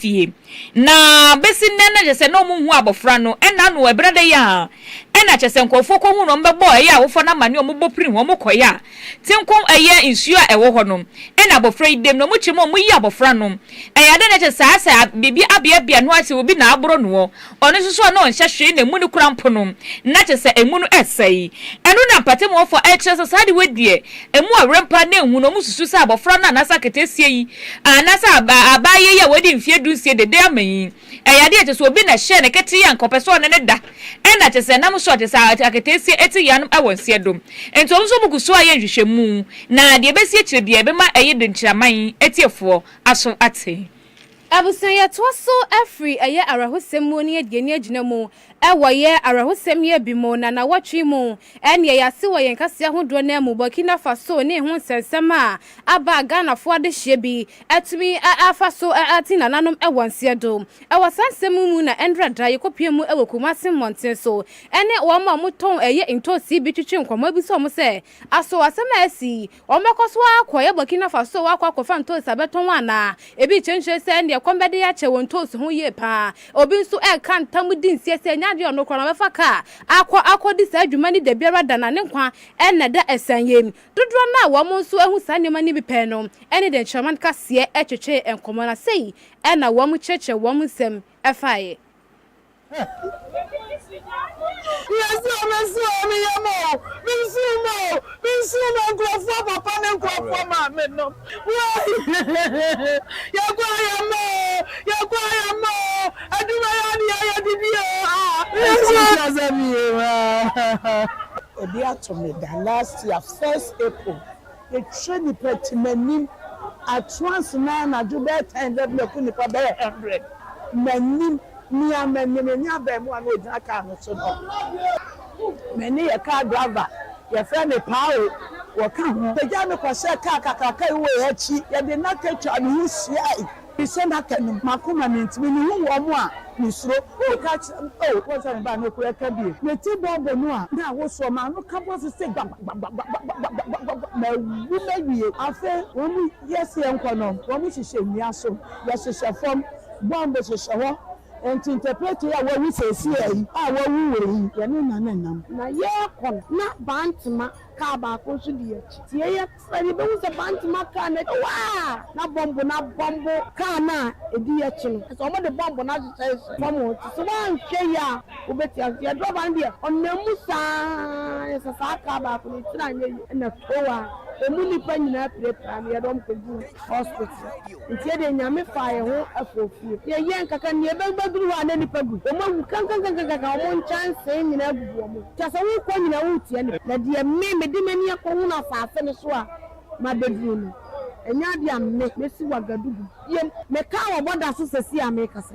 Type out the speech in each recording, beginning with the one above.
fie. Na besi nnɛ no kyerɛ sɛ na wɔnhu abɔfra no. Ɛnna ano ɛberɛ da yi ara na kyerɛ sɛ nkurɔfoɔ kɔhuu no, wɔbɛbɔɔ ɛyɛ awofoɔ no amaneɛ, wɔbɔ piri ho, wɔkɔeɛ a tenko ɛyɛ nsuo a ɛwɔ hɔ no na abɔfra yi dam, na wɔkyerɛ mu a wɔyi abɔfra no. Ɛyɛ adeɛ na ɛkyɛ sɛ saa sɛ biribi abeabea noa sɛ obi na aboro noɔ. Ɔno nso so a na ɔnhyɛ hwee na emu no kura mpo no, na kyerɛ sɛ emu no sɛe. Ɛno na mpate mu hɔfo kyerɛ sɛ saa ade wei deɛ, emu awerɛ mpo ara na enwu no. Wɔsusuw sɛ abofra no anaasɛ aketeesia yi anaasɛ abaayewa yi a wadi mfe dunsia dede ama yi, ɛyɛ ade a kyerɛ sɛ obi na ɛhyɛɛ no ketee a anka ɔpɛ sɛ ɔne no da. Ɛnna kyerɛ sɛ nam so a kyerɛ sɛ aketeesia te yeanom wɔ nseɛ do. Enti wɔn nso wɔgu so ayɛ nhwehwɛmu, na deɛ ɛbɛsi akyire biara ɛbɛma ɛyɛ den kyerɛ aman atiefoɔ aso ate. Abusua yɛtoa so firi ɛyɛ awerɛhosɛm mu ne adie ne agyina mu wɔ yɛ awerɛhosɛm yɛ bi mu na nawɔtwe mu ɛneɛ yɛase wɔ yɛn kaseɛ ahodoɔ no mu Burkina Faso ne ho nsɛnsɛm a aba a Ghanafoɔ adehyeɛ bi atumi afa so ate nananom wɔ nseɛ do wɔ saa nsɛm mu mu na ɛnora da yɛkɔpue mu wɔ Kumasi mmɔnten so ɛne wɔn a wɔtɔn ɛyɛ ntoosi bi twetwe nkɔmmɔ bi so wɔn sɛ aso asɛm a asi Wɔbɛkɔ so ara akɔyɛ Burkina Faso akɔ akɔfa ntoosi abɛtɔn anaa? Ebi rekyerɛkyerɛ sɛ ɛnde ɛkɔm bɛde akyɛ wɔn ntoosi ho yie pa ara. Obi nso reka ntam di nseɛ sɛ ɛnyɛ adeɛ a ɔno koraa na ɔbɛfa kaa akɔ akɔdi saa dwuma no da biara da na ne nkwa na ɛda asiane mu. Dodoɔ no a wɔn nso ahu saa nneɛma no bi pɛn no ne deɛ Nkyerɛma no kaseɛ twetwee nkɔmmɔ na sei na wɔkyerɛkyerɛ wɔn nsɛm faeɛ. Yɛse ɔbɛsi wɔ me yam o, mensuo mu o, mensuo mu o, nkurɔfoɔ papa ne nkurɔfoɔ maame nom woi yɛkɔ ayamma o, yɛkɔ ayamma o, adwuma yɛ ade a yɛde die o ah Yesu nhyira sɛ meyɛ o ah. Ebi ato me da last year first April. Yɛkyerɛ nnipa timanim atoa ase na anadwo bɛyɛ tan da biako nnipa bɛyɛ hundred manim nea manim ɛne abɛɛmoa no ɔgyina car no so no mene yɛ car driver yɛfrɛ me paa o wɔka ho bɛgyaa me kɔhyɛɛ car kakraka yi wɔ yɛn akyi yɛde nnaka twaa me ho hyiae Mehyɛ n'aka no mu. M'akoma mintumi. Mihu wɔn a, misuro. Woka kyerɛ me, oh, wɔn sɛ me ba no kura ka bi. Me ti bɔ bɔ no a, na wosoɔ. M'ano ka bɔ so sɛ gbagbagbagbagbagbagbagbagba. Mawu mawie. Afei wɔn yɛ sɛ yɛnkɔ no, wɔn hyehyɛ nnua so, yɛhyehyɛ fam, bɔmb hyehyɛ hɔ. Enti interpreter yi a wawu seesea yi, a wawu wɔ yi, yɛne no na nam. Na yɛrekɔ no, na Bantema kaa baako nso di yɛn akyi. Tie yɛn. Sɛ yebehu sɛ Bantam a kaa no akyi hɔ ara na bɔmbo no abɔmbo kaa no a, edi akyi no, ɛsɛ sɛ wɔde bɔmbo no ahyehyɛ nsu fam hɔ. Enti sɛ woanhwɛ yie a, wobɛte ase. Yɛn drɔba no deɛ, ɔnam mu saa ara. Sɛ saa kaa baako no nkyene anyɛ yie na tow a, emu nnipa nyinaa pirapira no, yɛde wɔn kɔgu hospital. Nti ɛdeɛ Nyame faa yɛn ho ɛfɔɔ fie. Yɛ yɛ nkaka nie bɛ bɛ duru hɔ a na nipa gu wɔn awu kankankankankan wɔn nkyansee nyinaa gugu wɔn ho kyɛ sɛ wo kɔ nyinaa wo tia nipa. Na deɛ me me de m'ani ɛkɔ hunu asaase no so a ma bɛ duru no ɛnyɛ adeɛ a me me si wagadugu biem me kaa wɔ bɔda so sɛsi a me kasa.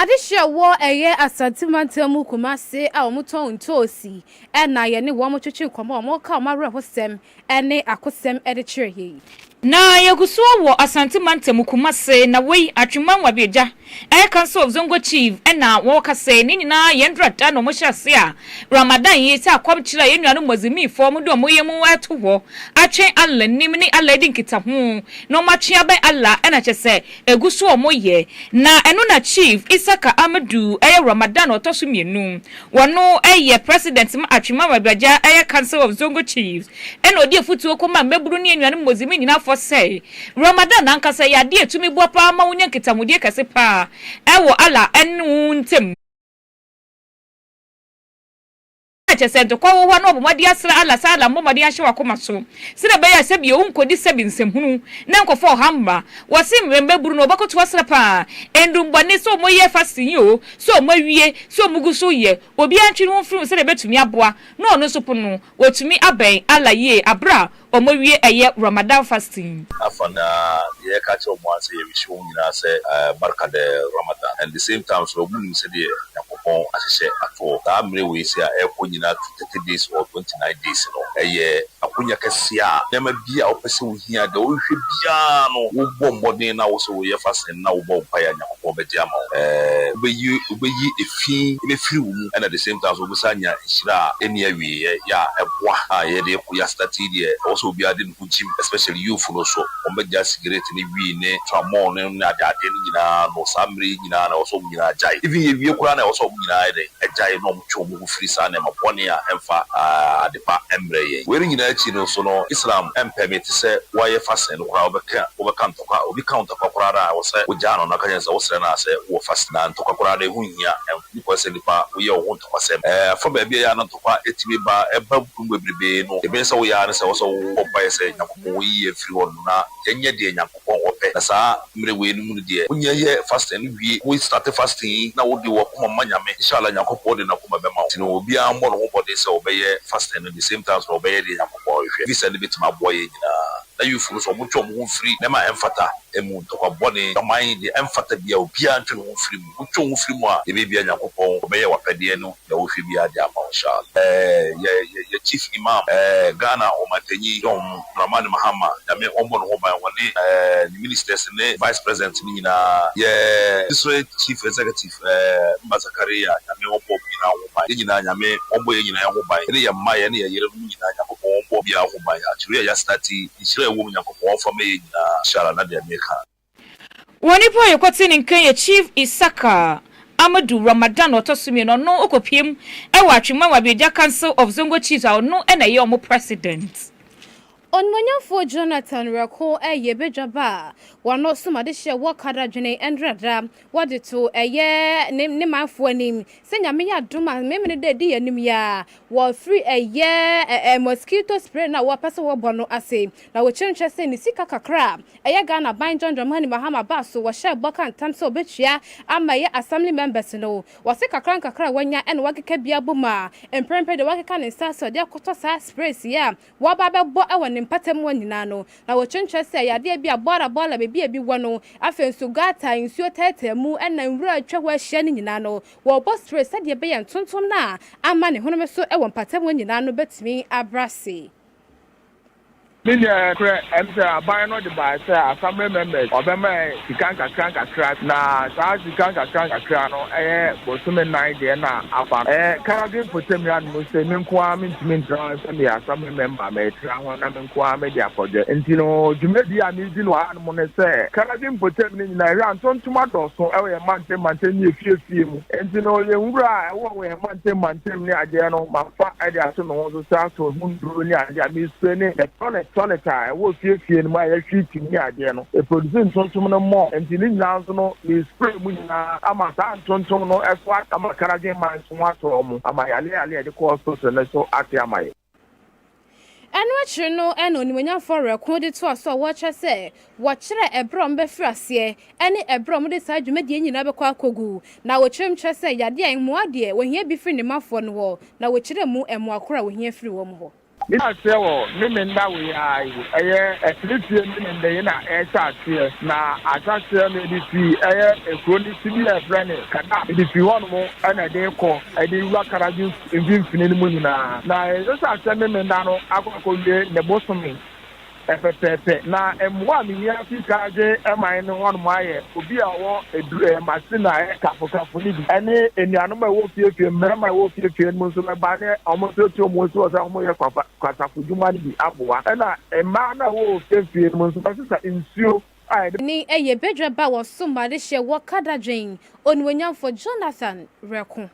Adehyeɛ a wɔ ɛyɛ Asante mantam mu Kumase a wɔn tɔn ntoosi na yɛne wɔn twetwe nkɔmmɔ a wɔka wɔn awerɛhosɛm ne akosɛm de kyerɛ yɛ yi. Na yɛgu so wɔ Asante mantam mu Kumase na wei Atwemanwo Abiogya ɛyɛ council of Zongo chief na wɔka sɛ ne nyinaa yɛn dura da na wɔn hyɛ ase a Ramadan yi sɛ akɔm kyerɛ a yɛn nuanom Muazimi foɔ wɔn de wɔn yɛ mu ɛto hɔ atwɛn Allah nim ne Allah adi nkita ho na wɔn atwe abɛn Allah ɛna kyɛ sɛ egu so a wɔyɛ, na ɛno na Chief Isaka Amadu yɛ Ramadan ɔtɔ so mmienu. Ɔno yɛ President ma Atwima Mabiragya Council of Zongo Chiefs, ɛna ɔde afutuo kɔma mmabunu ne anuanom Muslim nyinaa fɔ sɛ, Ramadan ankasa yɛ adeɛ a ɛtumi boa paa ma wonya nkitahodie kɛse paa ɛwɔ Allah ne wo ntam. kyerɛ sɛ dɔkɔ wɔ hɔ a na wɔbɔ mmɔden asra Allah sɛ Allah mmɔ mmɔden ahyɛ w'akoma so sɛnea ɛbɛyɛ a sɛbio wonkɔdi sɛbi nsɛm hunu na nkɔfa ɔhaw mma wɔ se mmerɛ mma buru no wɔbɛkoto asra paa ndumbɔne sɛ wɔn yɛ fasting yi oo sɛ wɔn awie sɛ wɔn gu so yɛ obiara ntwe ne ho mfiri ho sɛnea ɛbɛtumi aboa na ɔno nso pono no wɔtumi abɛn Allah yie aberɛ a Ɔmo wie ɛyɛ Ramadan fasting. Afa na yɛ ka kyerɛ ɔmo ara sɛ yɛ wish ɔmo nyinaa sɛ barika dɛ Ramadan and the same time nso ɔmo nim sɛdeɛ Nyankopɔn ahyehyɛ atoɔ saa mmere wei se a ɛrekɔ nyinaa to thirty days or twenty nine days no ɛyɛ akonya kɛseɛ a nneɛma biara a wopɛ sɛ wohia deɛ wohwehwɛ biara no wobɔ mmɔden na wo nso woyɛ fasting no. na wobɔ mpaeɛ a Nyankopɔn bɛgye ama wo. Wobɛyi wobɛyi efi bɛfiri wo mu ɛna the same time nso wobɛsan anya nhyira a ɛnni awieɛ yɛ a ɛboa a yɛde kɔ yasena tea deɛ ɛwɔ sɛ obiara de ne ho gyim especially youthfo no nso wɔn bɛgyae cigarette ne wii ne tramɔl no ne ade adeɛ no nyinaa no saa mmerɛ yi nyinaa na ɛwɔ sɛ wɔn nyinaa agyae even yɛwie koraa na ɛwɔ sɛ wɔn nyinaa ayɛ dɛn agyae na wɔn twe wɔn ho firi saa nneɛma bɔne a ɛmfa adepa mmrɛ yɛn wei no nyinaa akyi no nso no Islam ɛmpɛmete sɛ woayɛ fasting no koraa wobɛka wobɛka Ntɔkwa, Obi ka wo ntɔkwa koraa no a, ɛwɔ sɛ wogyaa no na woka kyerɛ no sɛ wosrɛ no ara sɛ wowɔ fa si. Na ntɔkwa koraa no, ɛho nhia. Ɛho hia sɛ nnipa woyɛ wɔn ho ntɔkwasɛm. Ɛfa baabi a ɛyɛ a na ntɔkwa tumi ba. Ɛba mu bebrebe no, deɛ ɛbɛyɛ sɛ woyɛ ara ne sɛ ɛwɔ sɛ wobɔ mpaeɛ sɛ, Nyankopɔn, wo yi yɛn firi hɔnom na yɛnyɛ deɛ Nyankopɔn ɔpɛ. Na saa mmerɛ wei no mu no deɛ, wonyɛ yɛ fasting no wie. Wo starte fasting yi na wode w'akoma ma Nyame. Inshallah, Nyankopɔn de n'akoma bɛma wo. Nti no, obiara mmɔ ne ho mmɔden sɛ ɔbɛyɛ fasting no the same time nso na ɔbɛyɛ deɛ Nyankopɔn hwehwɛ. Visa no bɛtumi aboa yɛn nyinaa. Na Yufo no so, wɔntwe wɔn ho mfiri nneɛma a ɛmfata mu, ntɔkwa bɔne, adwaman, deɛ ɛmfata biara, obiara ntwe ne ho mfiri mu. Wotwe wo ho firi mu a, deɛ ɛbɛyɛ biara Nyankopɔn, Ɔbɛyɛ w'apɛdeɛ no, deɛ wohwɛ biara de ama wo, inshaAllah. Yɛ yɛ yɛ Chief Imam, Ghana Ɔmantanyi John Dramani Mahama, Nyame ɔmmɔ ne ho ban, ɔne ne Ministers ne Vice President no nyinaa, yɛ District Chief Executive, Sɛ mma Zakaria, Nyame ɔmbɔ ɔmo nyinaa ho ban. Yɛ nyinaa, Nyame ɔmbɔ yɛ nyinaa ho ban. Yɛne yɛ mma, yɛne yɛ yerenom nyinaa, Nyankopɔn ɔmbɔ obiara ho ban. Akyere yi a yɛasena ate yi, nhyira a ɛwɔ mu, Nyankopɔn ɔmfa mmɛ yɛ nyinaa. Inshallah, na deɛ meka. Wɔn nipa a yɛkɔtee ne nka yɛ Chief Isaka Amadu Ramadan a ɔtɔ so mmienu, ɔno ɔkɔpiam wɔ Atwemman wɔ Abieja Council of Zongo Chiefs a ɔno na ɛyɛ wɔn President Ɔnumɔnyamfoɔ Jonathan Werɛko ɛyɛ badwa ba a wano som adehyeɛ wɔ kadadwene ndrada wɔde to ɛyɛ ne ne manfoɔ anim sɛ nyame yɛ adom a memene dɛ di yɛn anim yi ara wɔ firi ɛyɛ ɛɛ mosquito spray no a wɔ pɛ sɛ wɔ bɔ no ase na wɔ kyerɛnkyerɛ sɛ ne sika kakra a ɛyɛ Ghana ban John Mahani Mahama baa so wɔ hyɛɛ bɔ ka ntam sɛ ɔbɛtua ama ɛyɛ assembly members no wɔ se kakra nkakra a wanya ɛna wakeka bi abom a mprɛmprɛ deɛ wakeka ne nsa sɛ ɔde akɔtɔ saa sprays yi a wɔba bɛbɔ wɔ ne mpata mu hɔ nyinaa no, na wɔkyerɛkyerɛ sɛ ɛyɛ adeɛ bi a Bora Bora baabi a ebi wɔ no, afei nso Gata a nsuo taataa mu na nwura atwa hɔ ahyia no nyinaa no, wɔbɔ spray sɛdeɛ ɛbɛyɛ ntontom no a ama ne honome so wɔ mpata mu hɔ nyinaa no bɛtumi abrɛ ase. Ne deɛ korɛ ɛne sɛ aban no de baeɛ sɛ Assembly members wɔbɛma sika nkakra nkakra, na saa sika nkakra nkakra no yɛ bosome nnan deɛ na afa no. Ɛyɛ Karagwe mpɔtam yɛ anom sɛ me nko ara mentumi ntena sɛdeɛ asɔre mɛmba metra ho na me nko ara mede akɔdwɛ. Nti no, dwumadie a meredi no wɔ hanom ne sɛ, Canada mpɔtam no nyinaa, yɛhwɛ a ntontom adɔɔso wɔ yɛn mantam mantam ne yɛn fie afie mu. Nti no, yɛn nwura a ɛwɔ wɔ yɛn mantam mantam ne adeɛ no, mafa de ato me ho so sɛ asɔ ho nnuro ne adeɛ a mesprae ne the tonic tonic a ɛwɔ fie afie no mu a yɛhwie tim ne adeɛ no, ɛproduce ntontom no more. Nti ne nyinaa nso no, mesprae mu nyinaa ama saa ntontom no so aka ma Canada man. ho asɔ wɔn ama yɛn, ne ade a yɛde kɔɔ sorosoro no nso ate ama yɛn. Ɛno akyiri no na onimuonyamfoɔ werɛ ko de toaa so a wɔrekyerɛ sɛ wɔkyerɛ ɛberɛ a wɔbɛfiri aseɛ ne ɛberɛ a wɔde saa dwumadie yi nyinaa bɛkɔ akɔgu. Na wɔkyerɛm kyerɛ sɛ yadeɛ a ɛmmoa deɛ wɔhia bi firi ne mafoɔ no hɔ, na wɔkyerɛ mu mmoa korɔ a wɔhia firi wɔn hɔ. Bi na aseɛ wɔ Memenda wei ara yi. Ɛyɛ Ɛseretie Memenda yi na ɛrehyɛ aseɛ na ahyɛaseɛ no ɛde firi ɛyɛ ɛkuro no ti bi a yɛfrɛ no Kadab ɛde firi hɔ nom ɛna ɛde rekɔ ɛde wura Karagye mfimfini no mu nyinaa na ɛhyɛ aseɛ Memenda no akɔ akɔwie ne bosome Pɛpɛpɛpɛ, na mmoa a me nua fi kan dze mae no hɔnom ayɛ obi a ɔwɔ edu eh, machine a ɛyɛ kafokafo no bi, ɛne enuanom a ɛwɔ fiefie no, mmarima a ɛwɔ fiefie no mu nso bɛba ne wɔn nso etu wɔn nsi hɔ sɛ wɔn yɛ kwafa kwasafo dwuma no bi aboa, ɛna mmaa no a ɛwɔ ofiefie no mu nso bɛsesa nsuo a yɛde. Ne ɛyɛ badwa ba wɔ so ma de hyɛ wɔ kadadwen, Onuonyamfo Jonathan rɛko.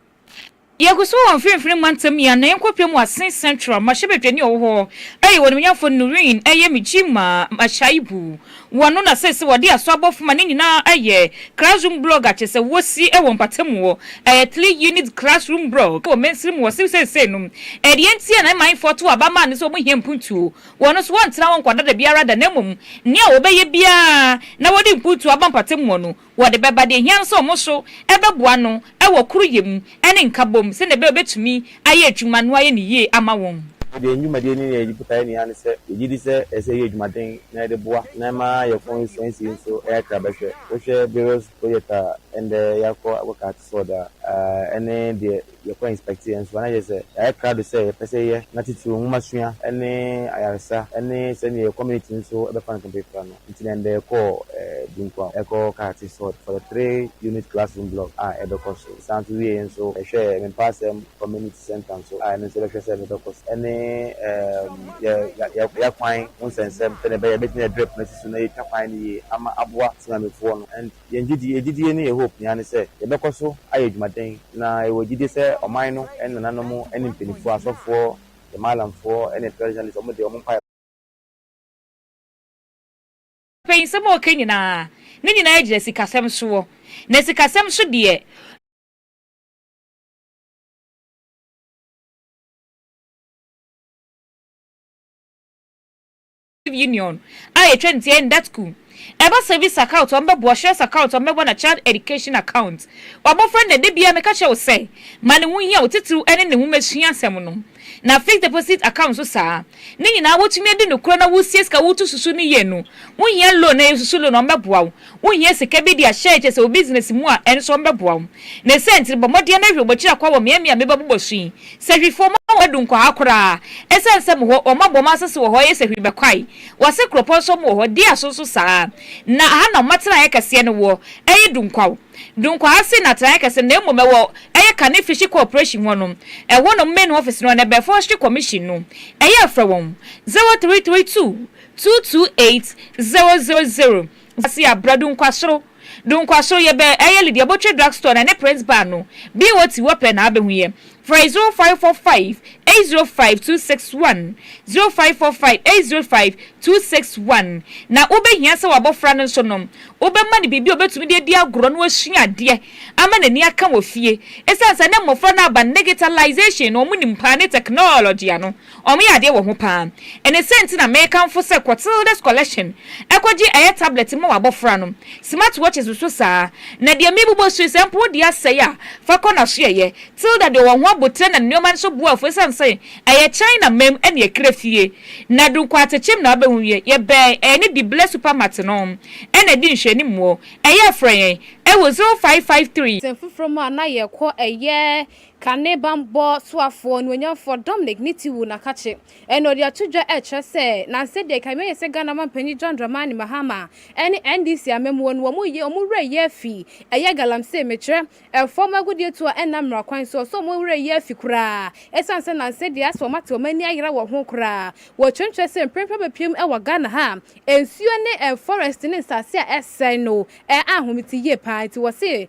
Yɛgu so wɔ Mfinfini Mantam yi anan kɔpem Wasin Central mmarahyɛbadwani a ɔwɔ hɔ ɛyɛ Ɔnimnyamfo Nureen Ayemijima Ashaibu wɔ no na seesei wɔde aso abɔfo ma ne nyinaa ɛyɛ Classroom Blog a kyerɛ sɛ wɔsi ɛwɔ mpatamu wɔ ɛyɛ Three Unit Classroom Blog wɔ mansini mu wɔ sew seesei no ɛdeɛ nti a na manfoɔ to aba maa no sɛ wɔn hia mpuntuo wɔ no so wɔntena hɔ nkɔda da biara da na mmom nea wɔbɛyɛ biara na wɔde mpuntuo aba mpatamu wɔ no Wɔde bɛba deɛ ɛhia no sɛ wɔn nso bɛboa no wɔ koroyɛ mu ne nkabom sɛdeɛ ɛbɛyɛ a ɔbɛtumi ayɛ adwuma no ayɛ no yie ama wɔn. Yɛn dwumadie no nyinaa yɛ botaeɛ ni ara ne sɛ yɛgye di sɛ ɛsɛ sɛ yɛyɛ adwumaden na yɛde boa na ɛma yɛn constituency nso yɛ akrabɛhwɛ. Wohwɛ various projects a ɛndɛ yɛakɔ akɔkate sɔɔda a, ɛne deɛ yɛkɔ inspect yɛ nso a na yɛ sɛ yɛayɛ krado sɛ yɛpɛ sɛ yɛyɛ na titiriw nwoma sua ne ayaresa ne sɛnea yɛ community nso bɛfa no kɛmpɛpra no nti na ɛnda yɛkɔɔ Dunkuaw ɛkɔ Karate Sword for the three unit classroom block a ɛbɛkɔ so ɛsan nso wieɛ nso yɛhwɛɛ Mempawasɛm community centre nso a ɛno nso yɛbɛhwɛ sɛ ɛno bɛkɔ so ɛne yɛ yɛ yɛ kwan ho nsɛnsɛm sɛnea ɛbɛyɛ a yɛbɛtumi de drip no asi so na yɛatwa kwan no yie ama aboa Temamufoɔ no and Yɛn gyidi, yɛn gyidie ne yɛn hope nyinaa ne sɛ yɛbɛkɔ so ayɛ adwumaden na yɛwɔ gyidie sɛ ɔman no ne nananom ne mpaninfoɔ, asɔfoɔ, yɛn Mallamfoɔ ne traditionalists, wɔn deɛ wɔn mpaebɔ. Afei nsɛm a ɔka nyinaa, ne nyinaa gyina sikasɛm soɔ, na sikasɛm so deɛ. Union a etwa ne ti yɛ Ndatku. Ɛba service account a wɔbɛbɔ, assurance account a wɔbɛbɔ na child education account. W'abɔfra no na da biara meka kyerɛ wo sɛ ma ne ho hia wo titiriw ɛne ne nwoma sua asɛm no. Na fixed deposit account nso saa. Ne nyinaa wotumi adi no korɛ na woresie sika a woretu susu no yie no, wohia loan a yɛsusu loan a wɔbɛboa wo Wohia sika bi de ahyɛ kyɛ sɛ wo bisinɛse mu a ɛno nso wɔbɛboa wo. Ne saa nti no, bɔ mmɔden ma hwɛ bokyira kwa wɔ mmeammea a meba bobɔ so yi. Sahwifoɔ, mo a moadu nkwahaa koraa, ɛsiane sɛ mo hɔ, wɔn abɔ mo asase wɔ hɔ yɛ sahwi bɛkwae. Wɔse kuropɔn nso mo wɔ hɔ, Dia so nso saa ara. Na aha na wɔn atenaeɛ kɛseɛ no woɔ, ɛyɛ Dunkwaw. Dunkwaha se n'atenaeɛ kɛse no na mmom ɛwɔ ɛyɛ Kane Fishing Corporation hɔ no. Ɛhɔ na wɔn main office no wɔ na ɛbɛn Forestry Commission no. Ɛyɛ frɛ wɔn, 0332 Two two eight zero zero zero Zasia bra Dunkwasoro Dunkwasoro yɛ bɛ ɛyɛ Lydia Botwe drug store na ɛne Prince bar no BOT wɔ pɛ na abɛhu yɛ Frɛ zero five four five eight zero five two six one zero five four five eight zero five two six one Na wobɛhia sɛ w'abɔfra no nso no wobɛma no biribi a ɔbɛtumi de adi agorɔ na wasua adeɛ ama n'ani aka wɔ fie Ɛsiane sɛ na mmɔfra no aba no negitalisation no wɔn nim paa ne tɛknɔɔlɔgye ano Wɔyɛ adeɛ wɔ ho paa. Ɛne sɛ nti na mekamfo sɛ Clotilda's Collection ɛkɔgye ɛyɛ tablet mma w'abɔfra no. Smart watches nso saa. Na deɛ mebobɔ su yi sɛ mpo wode asɛe a fa kɔ n'asoɛeɛ. Tilda deɛ ɔwɔ ho aboterɛ na ne nneɛma nso boa afu ɛsiane sɛ ɛyɛ China ma'm ɛne ɛkra fie. Na du Nkwaatekyem na wobɛhu wie. Yɛbɛn ɛɛ ne Diblɛ Supermart no ɛna ɛdi nhwɛanim wɔ ɛyɛ frɛ yɛn ɛwɔ 0553. Sɛ foforɔ mu a na yɛkɔ ɛyɛ Ka ne bammɔ soafoɔ onuonyamfoɔ Dominic ne ti wu na ka kye ɛna ɔde ato dwa ɛkyerɛ sɛ nansɛ deɛ kan mɛyɛ sɛ Ghana manpanyin John Dramani Mahama ɛne NDC amamuo no wɔn yɛ wɔn werɛ yɛ afi ɛyɛ galamsey mekyerɛ ɛfɔm agudeɛ tuo a ɛnna mmara kwan soɔ so wɔn werɛ yɛ afi koraa ɛsiane sɛ nansɛ deɛ asɛ wɔn ate wɔn ani ayera wɔ ho koraa wɔ kyerɛkyerɛ sɛ mprempren abɛpiem ɛwɔ Ghana ha a nsuo ne ɛn forest ne nsase a ɛsɛe no ɛɛ ahometeyie paa nti wɔse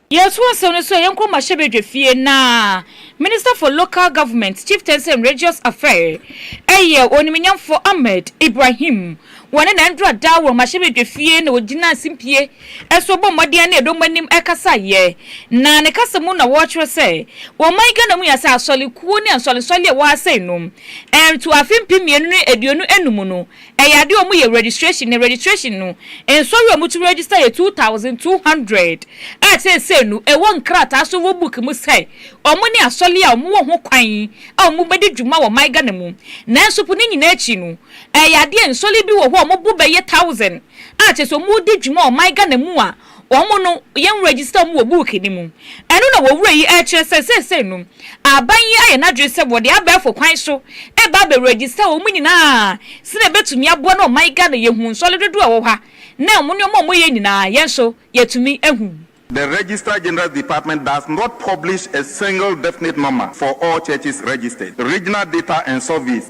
Yɛtoa asɛm no so a, yɛnkɔ mmarahyɛbadwa fie na Minister for Local Government, Chieftaincy and Religious Affair, ɛyɛ Onimuonyamfoɔ Ahmed Ibrahim, wɔne na ɛndura daa wɔ mmarahyɛbadwa fie na wɔgyina simpie so bɔ mmɔden ne ɛdɔm anim kasaeɛ na ne kasa mu na wɔkyerɛ sɛ ɔman Ghana mu yɛ sɛ asɔrekuo ne nsɔrensɔre a ɛwɔ ha sei no ɛntoa afe mpem mmienu ne aduonu anum no Ɛyɛ ade a wɔyɛ registration na registration no nsɔre a wɔto register yɛ two thousand two hundred a seesei no ɛwɔ nkrataa so wɔ book mu sɛ wɔn ne asɔre a wɔwɔ ho kwan a wɔbɛdi dwuma wɔ man Ghana mu. Nanso po ne nyinaa akyi no ɛyɛ ade a nsɔre bi wɔ hɔ a wɔbo bɛyɛ thousand a kyerɛ sɛ wɔredi dwuma wɔ man Ghana mu a Wɔn no, yɛn register wɔn wɔ book no mu. Ɛno na owura yi rekyerɛ sɛ seesei no, aban yi ayɛ n'adwene sɛ wɔde abɛɛfo kwan so reba abɛ register wɔn nyinaa sɛnea ebetumi aboa na ɔman Ghana yɛhu nsɔre dodoɔ a ɛwɔ hɔ a na wɔn nneɛma a wɔyɛ nyinaa yɛn nso yɛtumi hu. The Registrar General's Department does not publish a single definite number for all churches registered. Regional Data and Surveys,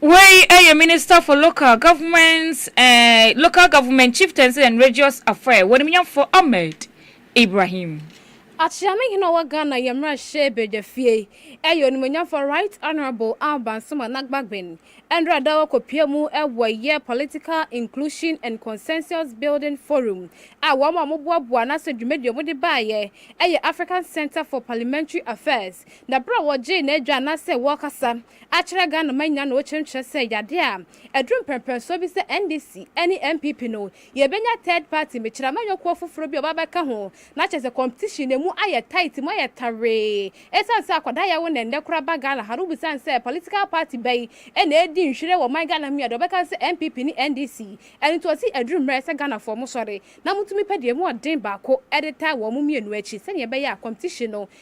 Wei yɛ Minister for Local Government, eh, Local Government, Chieftaincy and Regious Affair, W'animnyamfo Ahmed Ibrahim. Akyea ne hene a ɔwɔ Ghana yɛ mmarahyɛ badwafie yɛ Onimuonyamfoɔ Right Honourable Alban Nsuma Nagbagbin ɛnora da wɔkɔpia mu wɔ yɛ Political Inclusion and Consensus Building Forum a wɔn a wɔboaboa n'asɛ dwumadie a wɔde baeɛ yɛ African Centre for Parliamentary Affairs Na berɛ a wɔgyee n'adwa anaasɛ wɔrekasa akyerɛ Ghana man nyinaa na wɔkyerɛmkyerɛ sɛ yadeɛ a aduru mprɛmprɛnsoɔ bi sɛ NDC ne NPP no yɛbɛnya third party mekyerɛ amanyɔkuo foforɔ bi a ɔba abɛka ho na kyerɛ sɛ competition no ɛmu ayɛ tight mu ayɛ tawee ɛsiane sɛ akwadaa yɛwo na ɛnnɛ koraa ba Ghana ha no wobisa no sɛ political party bɛn na ɛredi nhwire wɔ man Ghana mu yi a deɛ ɔbɛka ne sɛ NPP ne NDC ɛno nti ɔse aduru mmerɛ sɛ Ghanafoɔ mosɔre na motumi pɛ deɛ ɛmu ɔden baako de taa wɔn mmienu akyi sɛdeɛ ɛbɛyɛ a competition no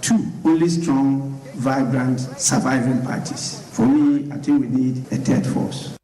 Two only strong, vibrant, surviving parties. For me, I think we need a third force.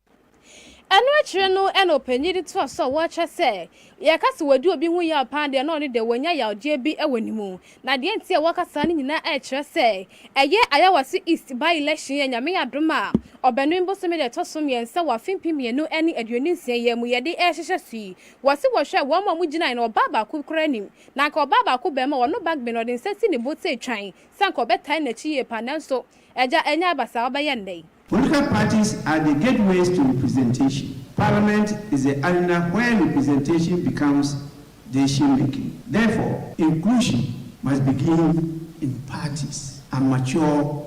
Ɛno akyire no na ɔpanin de toa so a wɔkyerɛ sɛ, yɛka sɛ wadi obi ho yaw paa deɛ na ɔno deɛ wanya yawdeɛ bi wɔ ne mu. Na deɛ nti a wɔka saa no nyinaa ɛkyerɛ sɛ, ɛyɛ Ayawaso East by election yi a Nyame adom a Ɔbɛnem bosome da ɛtɔ so mmiɛnsa wɔ afe mpem mmienu ne aduonu nsia yi ara mu yɛde ɛrehyehyɛ so yi Wɔse wɔhwɛɛ wɔn a wɔgyinae no, ɔbaa baako koraa nnim. Na anka ɔbaa baako barima a ɔno Bagbin, ɔde nsa si ne bo tee twann sɛ anka ɔbɛtan n'akyi yie paa, nanso Agya, ɛnyɛ aba saa a wobɛyɛ nnɛ yi. Political parties are the gateways to representation. Parliament is the arena where representation becomes decision making. Therefore, inclusion must begin in parties and mature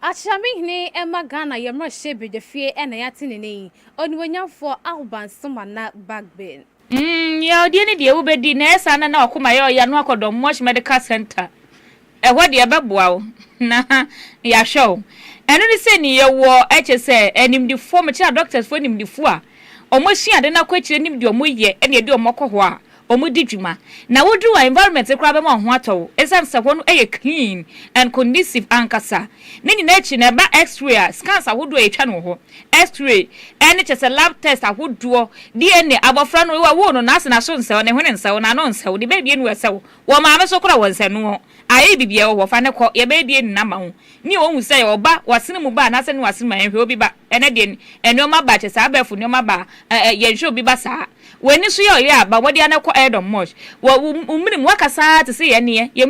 Akyerɛme hene ɛma Ghana yɛ mmarahyɛ badwafie ɛna yɛ atenene yi onimuonyamfoɔ Ahoban Somana Bagbin. Umm yaɔdeɛ no deɛ wobɛdi na ɛyɛ saa na na wakoma yɛ ɔya no akɔ Dɔnmosh Medical Centre ɛhɔ deɛ ɛbɛboa wo na yahwɛ wo ɛno ne sɛ ni yɛwɔ ɛkyɛ sɛ animdefoɔ mekyɛ adɔctors foɔ animdefo a ɔmo asua ade no akɔ akyire nim deɛ ɔmo yɛ ɛna ɛde ɔmo kɔ hɔ a wɔn di dwuma na woduru a environment no koraa bɛma wɔn ho atɔ wo esiane sɛ hɔ no yɛ clean and conducive ankasa. Ne nyinaa akyi no ɛba X-ray a scans ahodoɔ a yɛtwa no wɔ hɔ, X-ray ɛne kyerɛ sɛ lab test ahodoɔ, DNA, abɔfra no wɔwoo no no ase na so nsɛw, ne hwene nsɛw, n'ano nsɛw, ne bɛɛbi anu ɛsɛw, wɔ maame so koraa wɔ nsɛnoɔ. Ae bibia wɔ hɔ fa no kɔ yɛbɛyɛ bi adi no ama wo nea ohu sɛ yɛwɔ ba wasene mu ba anaasɛ ne wasene mu a yɛnhwɛ obi ba ɛnɛ deɛ nnoɔma ba kyɛ saa abɛɛfo nnoɔma ba a ɛɛ yɛnhwɛ obi ba saa w'ani so yɛ ɔyɛ a ba mmɔden ara na kɔ ɛɛdɔm much wɔ wo wo mene mu woakasa ara te se yɛn ne yɛn yɛn mene